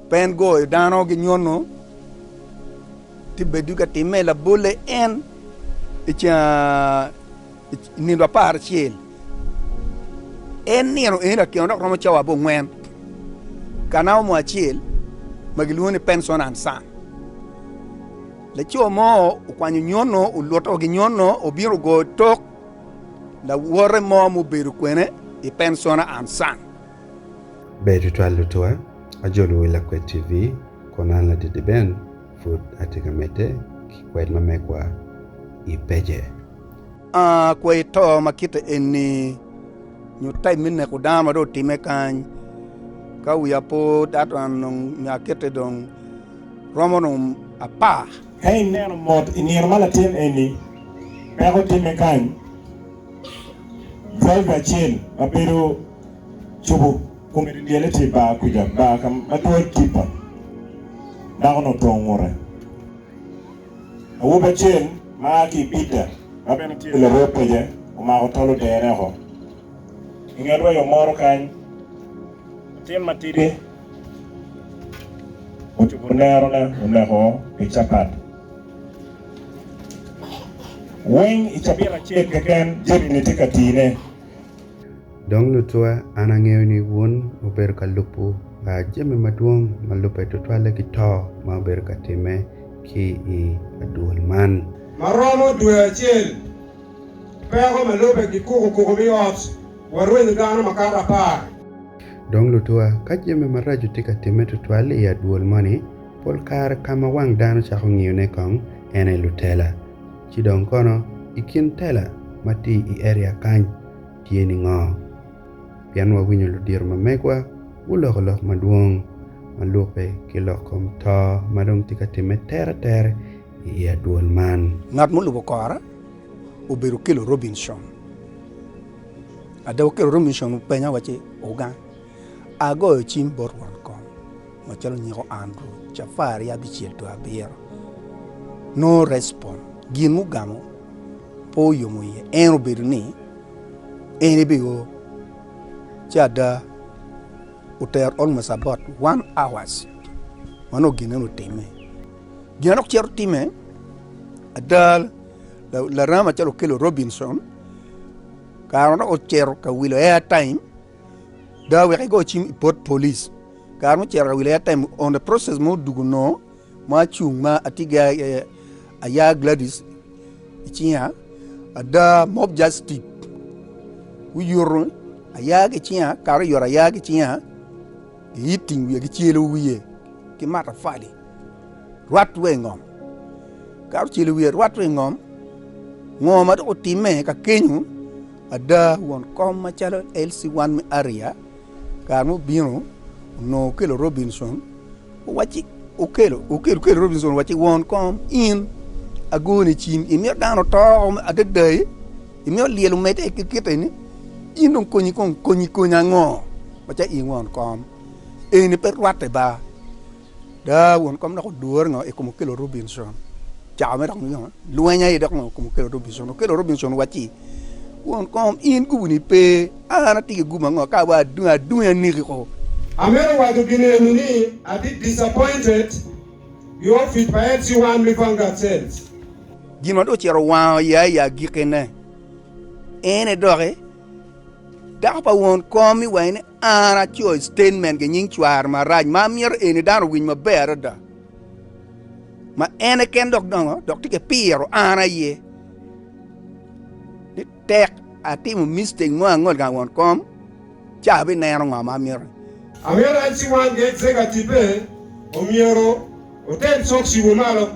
Pen goyo dano ki nyono tye bedo ka timme labolle en i nino apar acel. En nino eni latyeno dok romo cawa abongwen ka namo mo acel ma gilwongo ni pension and son. Laco mo okwanyo nyono oluto ki nyono obino ogoyo tok lawote mo mubedo kwene i pension and son. Ber tutwal lutwa, ajolo wi Lakwed TV kun an Ladidi Ben pud atye ka medde ki kwed ma megwa i page. Aa kwo i to ma kite eni nyo type me neko dano ma dong otime kany ka wiya pe odato an dong nyo akete dong romo dong apar. Ka ineno mot i nino ma latin eni peko time kany, driver acel ma bedo. cobo kome dyelyele tye bar kwija bar ka ma twero tipa dako ni otongo ngute. Awobi acel ma a ki i Bidda ma bene tye larwod peja omako tol odere oko i nget wa yo moro kany latin matidi ocubo nero ne oneko pi capat. Weng i cabit acel keken jami ni tye ka tii ne. Dong lucwa, an angeyo ni wun wubedo ka lubo jami madwong ma lubbe tutwalle ki to ma wubedo ka timme ki i adwol man. Ma romo dwe acel peko ma lubbe gikuko kuko mi ot wa rwenyo dano makato apar. Dong lucwa, ka jami maraco tye ka timme tutwal i adwol moni, pol kare ka ma wang dano cako ngiyone kong en aye lutela. Ci dong kono i kin tela ma tye i eria kany tye ningo? Pien wawinyo ludito ma megwa guloko lok madwong ma lukke ki lok kom to ma dong tye ka timme tere tere i i adwol man. Ngat mulubo kora obedo Okello Robinson. Ada Okello Robinson openya wa ci, Ogang. Agoyo cim bot won kom macalo nyeko Andrew Cafari abicel dwe abiro. No respond, Gin mugamo pe oyomo iye en obedo ni en ebe o ci ada otero almost about one hours ma nongo gin eno otime. Gin adok cito time ada larama calo okelo Robinson kare ma dok ocito ka wilo air time Daa wek igo cim i pot police kare mucito ka wilayat time on the process mo dugu no ma acung ma atye gi aya Gladys icinga ada mob justice guyuto aya ki cinga kare oyuto aya ki cinga gi hitting wiye ki celo wiye ki matapali rwat wa ingom kare ocelo wiye rwat wa ingom ngo ma dok otime kakenyo Ada, won kom macalo Elsie Wanmi Aria kare ma obino onongo okelo Robinson owacci okelo okelo okelo Robinson owacci won kom in agoni i cim imito dano oto adadai imito lyel omedde ki kite ni in dong konyi kong konyi konyi ango macalo in won kom eni pe rwatte ba. Daa wun kom dok odwor ngo ikom okelo Robinson cako me dok nongo lweny aye dok ngo kom okelo Robinson okelo Robinson waci wun kom in gubu ni pe an ati ki gubu ango ka wa adungi adungi aneki ko. Amito waco gin eno ni ati disappointed ki ofic pa FC1 me Vanguard Sales. Gin ma dong ocito wango ya i agikine ene doki dako pa won kom iwaci ni. An acoyo statement ki nying cware marac ma amyero eni dano owiny maber adada, ma en keken dok dongo dok tye ki piro an aye ni tek atimo mistake mo angol gang won kom ci abineno ngo ma amyero. Amyero en ciwan ki executive-pe omyero oter cok cibo malo.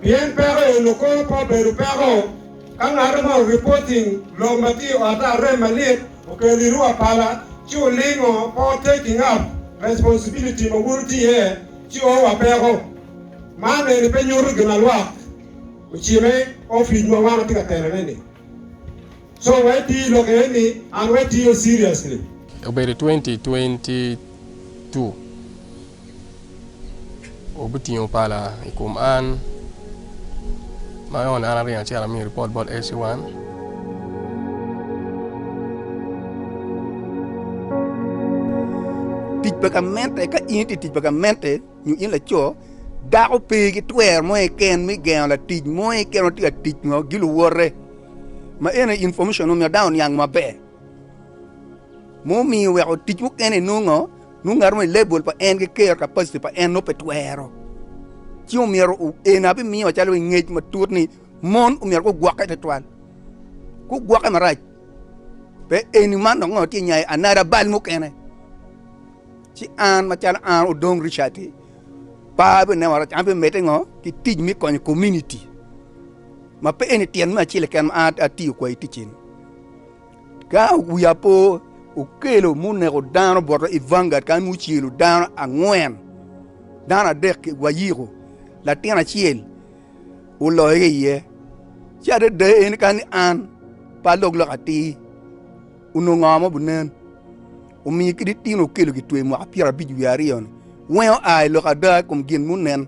Pien peko eno kono pe obedo peko ka ngat ma oripoting lok ma tye i otte arem malit okelo i rua pala ci olingo pe o taking up responsibility ma wun wutye iye ci o wa peko. Man eni pe nyuto gin ma lwak ocime ofic ma wan watye ka telone ni. So wa iti lok eni and wa itiyo seriously. Obedo twenty twenty two. Wubitingo pala i kom an, ma nongo an aringo acito amiyo ripot bot SC1. Tic pa gamente, Ka in itye i tic pa gamente nyo in laco, dako pe ki twero mo keken me gengo latic mo keken ma tye ka tic nyo giluwote. Ma eni information omiyo dano oniang maber. Mumiyo weko tic mukene inongo. Nongo ngat mo i lebol pa en ki kero kapaciti pa en nongo pe twero. Ci omyero eni abimiyo wa calo ngec matut ni mon omyero gugwokke twatwal, gugwokke marac. Pe eni man dok ngat tye nya i anada bal mukene. Ci an macalo an Odong Richard-ti, par abineno warac an abimedde ngo ki tic me konyo kominiti ma pe eni tyen me acel keken ma an atiyo kwai ticci-ni. Ka wi apo okelo muneko dano bot i vanguard kany mucelo dano angwen, dano adek wayiko latin acel oloyo ki iye, ci adada en kani an pe alok lok atir onongo ngo ma obinen? Omiyo kadi tin okelo kitweyo mwaka pyerabic wiye aryo-ni, weng oa i lok ada i kom gin munen.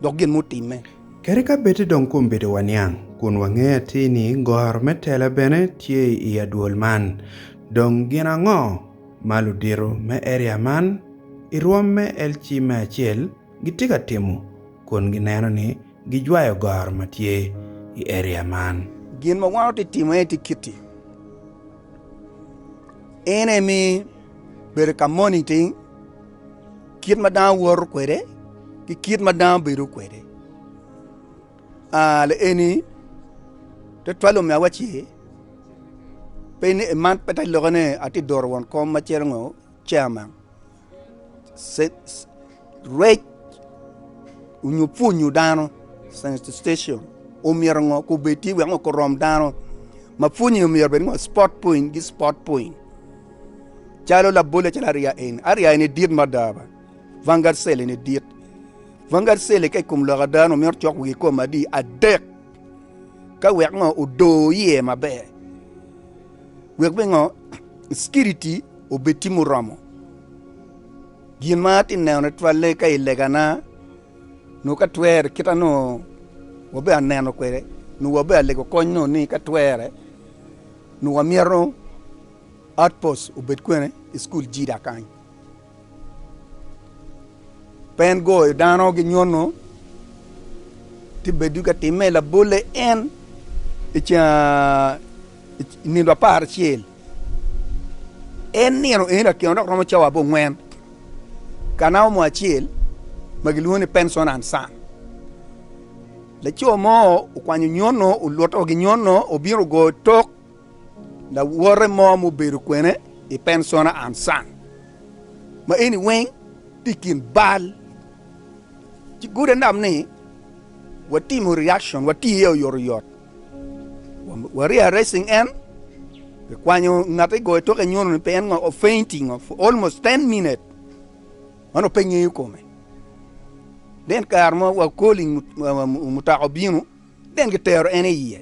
dok gin mutimme. Kadi ka bed-di dong kombedowa niang, kun wangeyo atir ni goro me tela bene tye i adwol man, dong gin ango ma ludito me eria man i rwom me LC me acel gitye ka timo kun gineno ni gijwayo goro ma tye i eria man? Gin ma wan watye ka timo eni tye kit-ti, En aye miyo bedo ka moniting. kit ma dano woto kwede ki kit ma dano bedo kwede aa lieni tutwale omiyo awaci pe ni man pe te lokke ni atye doro won kom macalo ngo chairman rec onyo pwonyo dano sensitization omyero ngo kobedi wek ngo korom dano ma pwonye omyero obed ngo sport point ki sport point. calo labole calo ariya eni ariya eni dit mada ba vanguard cell eni dit vanguard cell ka i kom lok ada ni omyero ocok wiye kome adi adek ka wek ngo odo iye maber wek me ngo security obed tye muromo gin ma atye neno ni twale ka i lega na nongo ka twere kita nongo wabe aneno kwede nongo wabe alego kony nongo ni ka twere Nyo wamyero outpost obed kwene i cukul Jida kany? Pen goyo dano gi nyono tye bedo ka timme labolle en i nino apar acel. En nino eni lakyena dok romo cawa abongwen ka namo mo acel ma gilwongo ni penson and sun. Laco mo okwanyo nyono oluto gi nyono obino ogoyo tok lawote mo ma obedo kwene i Pencona and Son, ma eni weng tye i kin bal, ci gode nam ni watimo reaction wati iye oyot oyot wa re arresting en ki kwanyo ngate goyo toke nyono ni pe en ngo fainting for almost ten minutes. Man ope ngeyo kome ni en kare mo wa koli mutoka obino ni en gitero en iye.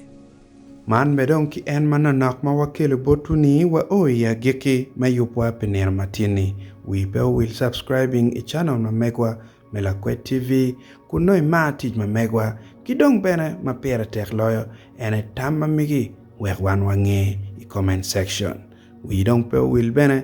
Man be dong ki en manonok ma wakelo botwu ni wa o i agiki me yubwa pi nino matin ni. Wii pe owil subscribing i channel ma megwa me Lakwed TV kun nongo imar tic ma megwa ki dong bene ma pire tek loyo en aye tam ma migi wek wan wange i comment section. Wii dong pe owil bene.